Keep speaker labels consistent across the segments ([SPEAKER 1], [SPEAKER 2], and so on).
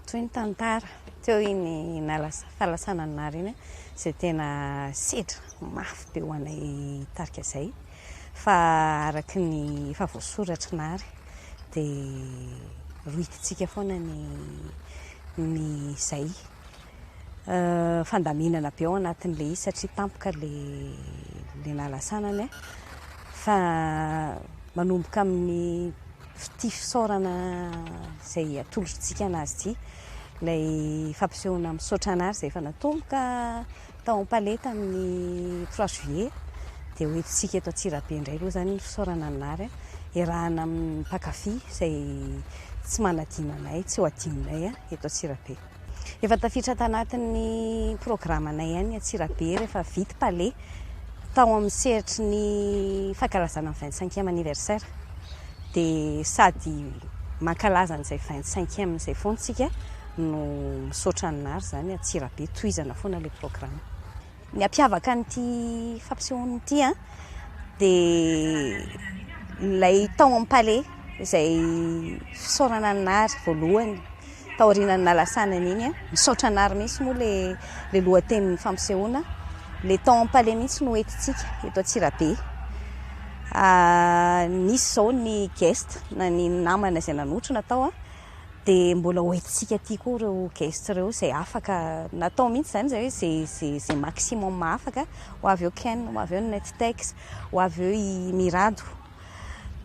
[SPEAKER 1] Toy ny tantara teo iny fahalasana an'i Nary iny izay tena sedra mafy be ho anay tarika izay fa araka ny efa voasoratr'i Nary dia rohitintsika foana ny izay. fandaminana be ao anatin'ilay izy satria tampoka ilay ilay nalasanany a, fa manomboka amin'ny ity fisaorana izay atolotr'tsika an'azy ity, ilay fampisehoana misaotra an'azy izay efa natomboka tao am-palais tamin'ny trois juillet, dia ho entintsika eto Antsirabe indray aloha izany ny fisaorana ny Nary, iarahana amin'ny mpankafy izay tsy manadino anay, tsy ho adinonay eto Antsirabe. Efa tafiditra tanatin'ny programanay ihany ny Antsirabe rehefa vita Palais tao amin'ny sehatry ny fankalazana ny 25e anniversaire. Dia sady mankalaza an'izay 25e izay foana isika no misaotra an'i Nary izany Antsirabe tohizana foana ilay programme. Ny hampiavaka an'ity fampisehoana ity an, dia ilay tao amin'ny palais izay fisaorana an'i Nary voalohany taorianan'ny nalasanany iny an. Misaotra an'i Nary mihitsy moa ilay ilay lohatenin'ny fampisehoana. Ilay tao amin'ny palais mihitsy no entintsika eto Antsirabe. Nisy izao ny guest na ny namana izay nanotrona tao an. dia mbola ho entintsika aty koa ireo guest ireo izay afaka natao mihitsy izany izay hoe izay izay izay maximum afaka ho avy eo Ken ho avy eo ny Nettex ho avy eo i Mirado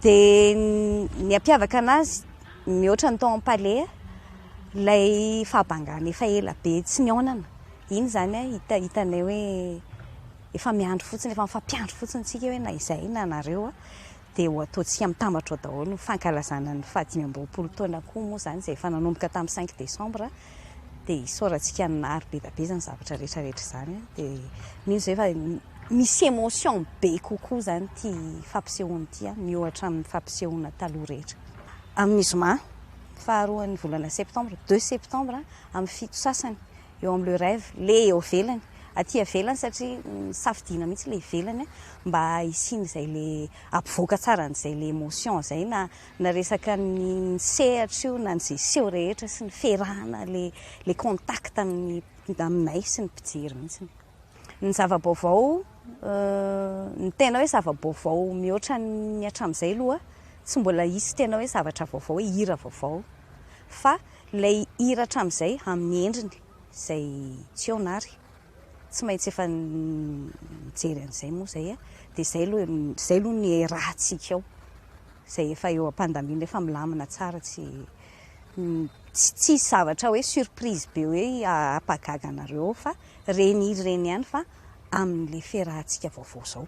[SPEAKER 1] dia ny hampiavaka anazy mihoatra ny tao am-paleha ilay fahabangana efa ela be tsy nihaonana iny izany a hita hitanay hoe efa miandry fotsiny efa mifampiandry fotsiny tsika hoe na izay na anareo a dia ho ataontsika mitambatra ao daholo ny fankalazana ny fahadimy amby roapolo taona koa moa izany izay efa nanomboka tamin'ny cinq décembre dia isaorantsika ny nahary be dia be izany zavatra rehetra rehetra izany dia mino izay fa misy émotion be kokoa izany ity fampisehoana ity miohatra amin'ny fampisehoana taloha rehetra amin'ny zoma faharoan'ny volana septembre deux septembre amin'ny fito sasany eo amin'ny Le Rêve, le eo ivelany, aty ivelany satria safidiana mihitsy ilay ivelany mba hisian'izay le hampivoaka tsara an'izay le emotion izay na na resaka ny sehatra io na ny ze seho rehetra sy ny fiarahana le le contact amin'ny aminay sy ny mpijery mihitsy. Ny zava-baovao, ny tena hoe zava-baovao mihoatra ny hatramin'izay aloha, tsy mbola hisy tena hoe zavatra vaovao hoe hira vaovao. Fa ilay hira hatramin'izay amin'ny endriny izay tsy eo na ary. Tsy maintsy efa nijery an'izay moa izay e. Dia izay aloha, izay aloha no iarahantsika ao. Izay efa eo am-pandaminana, efa milamina tsara, tsy, tsy hisy zavatra hoe surprise be hoe hampahagaga anareo ao fa. Reny ireny ihany fa aminy le ferahantsika vaovao zao.